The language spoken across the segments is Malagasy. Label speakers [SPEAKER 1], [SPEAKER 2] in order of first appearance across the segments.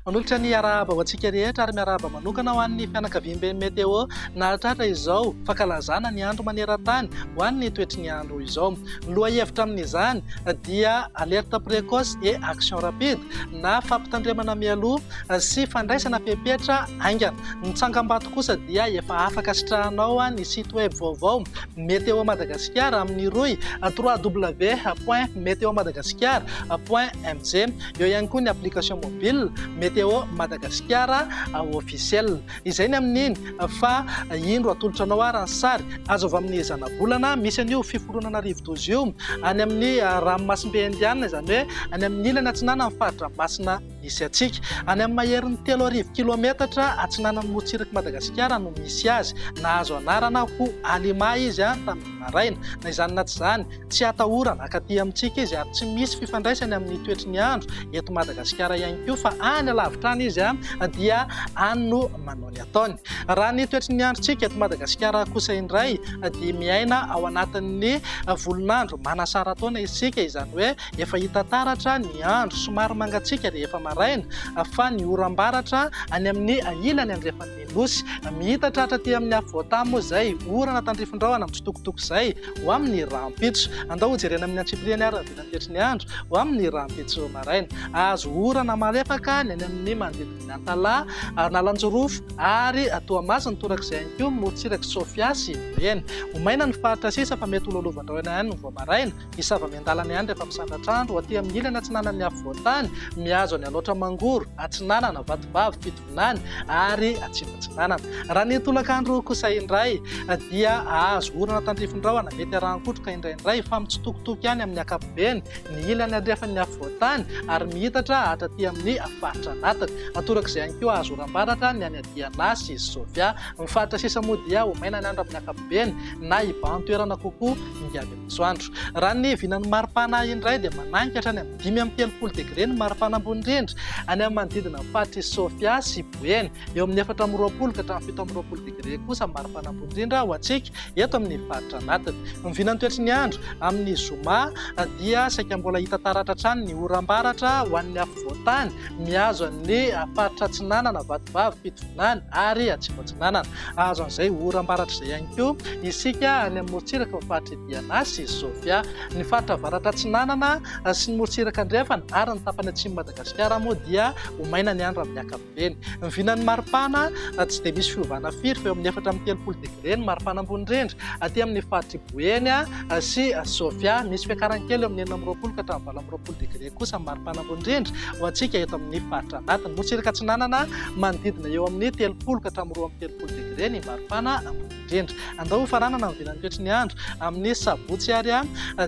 [SPEAKER 1] Manolotra ny arahaba ho antsika rehetra ary miarahaba manokana ho an'ny fianakaviamben'ny Meteo nahatratra izao fankalazana ny andro maneran-tany ho an'ny toetry ny andro izao. Ny lohahevitra amin'izany dia alerte précoce et action rapide. na fampitandremana mialoha sy fandraisana fepetra haingana. Ny tsangambato kosa dia efa afaka sitrahanao ny site web vaovao Météo Madagasikara amin'ny rohy www.meteomadagascar.mg. Eo ihany koa ny application mobile Météo Madagasikara Officiel. Izay ny amin'ny eny fa indro atolotra anao ary ny sary azo avy amin'ny zanabolana misy an'io fiforonana rivodoza io any amin'ny ranomasimbe indianina, izany hoe any amin'ny ilany atsinanan'ny fari-dranomasina misy antsika. Any amin'ny maherin'ny telo arivo kilaometatra atsinanan'i Motsirik'i Madagasikara no misy azy. Nahazo anarana ho Alima izy tamin'ny maraina, na izany na tsy izany. Tsy atahorana, akaty amintsika izy ary tsy misy fifandraisany amin'ny toetry ny andro eto Madagasikara ihany koa fa any alavitra any izy dia any no manao ny ataony. Raha ny toetry ny androntsika eto Madagasikara kosa indray dia miaina ao anatin'ny volon'andro manasara-taona isika, izany hoe efa hita taratra ny andro somary mangatsiaka rehefa maraina fa ny oram-baratra any amin'ny ilany andrefan'ny Nosy, mihita tratra aty amin'ny afovoan-tany moa izay, orana tandrifin-drahona mitsitokotoko izay, ho amin'ny rahampitso. Andao hojerena amin'ny antsipiriany ary ny vita fetry ny andro, ho amin'ny rahampitso maraina. Hahazo orana malefaka ny any amin'ny manodidin'i Antalaha, Analanjirofo ary Toamasina, torak'izay ihany koa morontsirak'i Sofia sy Boeny. Ho maina ny faritra sisa fa mety ho lolovan-drahona ihany vao maraina. Hisava miandalana ihany rehefa misandratra andro aty amin'ny ilany atsinanan'ny afovoan-tany, mihazo an'i Alaotra Mangoro, Atsinanana, Vatovavy, Tanànan'Antanimena ary Atsimo Atsinanana. Raha ny tolakandro kosa indray dia hahazo orana tandrifin-drahona mety arahan-kotroka indraindray fa mitsitokotoko ihany amin'ny ankapobeny ny ilany andrefan'ny afovoan-tany ary mihitatra hatraty amin'ny faritra anatiny. Torak'izay ihany koa hahazo oram-baratra ny any Adiana sy Sofia. Ny faritra sisa moa dia ho maina ny andro amin'ny ankapobeny na hibahan-toerana kokoa ny avy etsy. Masoandro. Raha ny vinan'ny maripana indray dia managny ka hatrany amin'ny dimy amby telopolo degre ny maripana ambony indrindra any amin'ny manodidina ny faritry Sofia sy Boeny. Eo amin'ny efatra amby roapolo ka hatramin'ny fito amby roapolo degre kosa ny maripana ambony indrindra ho antsika eto amin'ny faritra anatiny. Ny vinan'ny toetry ny andro amin'ny zoma dia saika mbola hita taratra hatrany ny oram-baratra ho an'ny afovoan-tany mihazo an'ny faritra atsinanana, Vatovavy, Fitovinany ary Atsimo Atsinanana. Hahazo an'izay oram-baratrizay ihany koa isika any amin'ny morontsiraka ao amin'ny faritr'i Diana sy Sofia. Ny faritra avaratra atsinanana sy ny morontsiraka andrefana ary ny tapany atsimon'i Madagasikara moa dia ho maina ny andro amin'ny ankapobeny. Ny vinan'ny maripana tsy dia misy fiovana firy fa eo amin'ny efatra amby telopolo degre ny maripana ambony indrindra aty amin'ny faritr'i Boeny sy Sofia. Misy fiakarany kely eo amin'ny enina amby roapolo ka hatramin'ny valo amby roapolo degre. kosa ny maripana ambony indrindra ho antsika eto amin'ny faritra anatiny. Motsirika atsinanana manodidina eo amin'ny telopolo ka hatramin'ny roa amby telopolo degre ny maripana ambony indrindra. Andao ho faranana ny vilan'ny toetry ny andro amin'ny sabotsy ary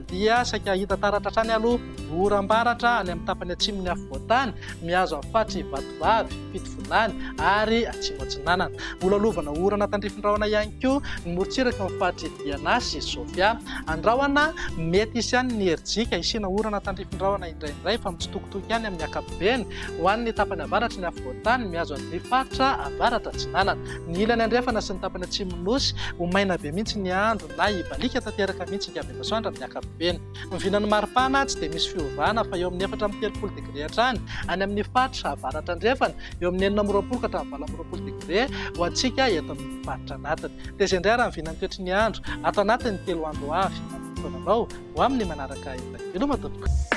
[SPEAKER 1] dia saika hahita taratra hatrany aloha oram-baratra any amin'ny tapany atsimon'ny afovoan-tany mihazo amin'ny faritry Vatovavy. Vilany ary Atsimo Atsinanana. Mbola lovana orana tandrifin-drahona ihany koa ny morontsiraky ny faritry Diana sy Sofia. Andrahona mety hisy ihany ny herijika hisiana orana tandrifin-drahona indraindray fa mitsitokotoko ihany amin'ny ankapobeny ho an'ny tapany avaratry ny afovoan-tany mihazo an'ity faritra avaratra atsinanana. Ny ilany andrefana sy ny tapany atsimon'ny Nosy ho maina be mihitsy ny andro na hibaliaka tanteraka mihitsy hika be masoandro amin'ny ankapobeny. Ny vinan'ny maripana tsy dia misy fiovana fa eo amin'ny efatra amby telopolo degre hatrany any amin'ny faritra avaratra andrefana, eo amin'ny enina amby roapolo ka hatramin'ny valo amby roapolo degre ho antsika eto amin'ny faritra anatiny. Taiza indray ary ny vinan'ny toetry ny andro ato anatin'ny telo andro ho avy? Manomboka fotoana anao ho amin'ny manaraka indray. Veloma tompoko!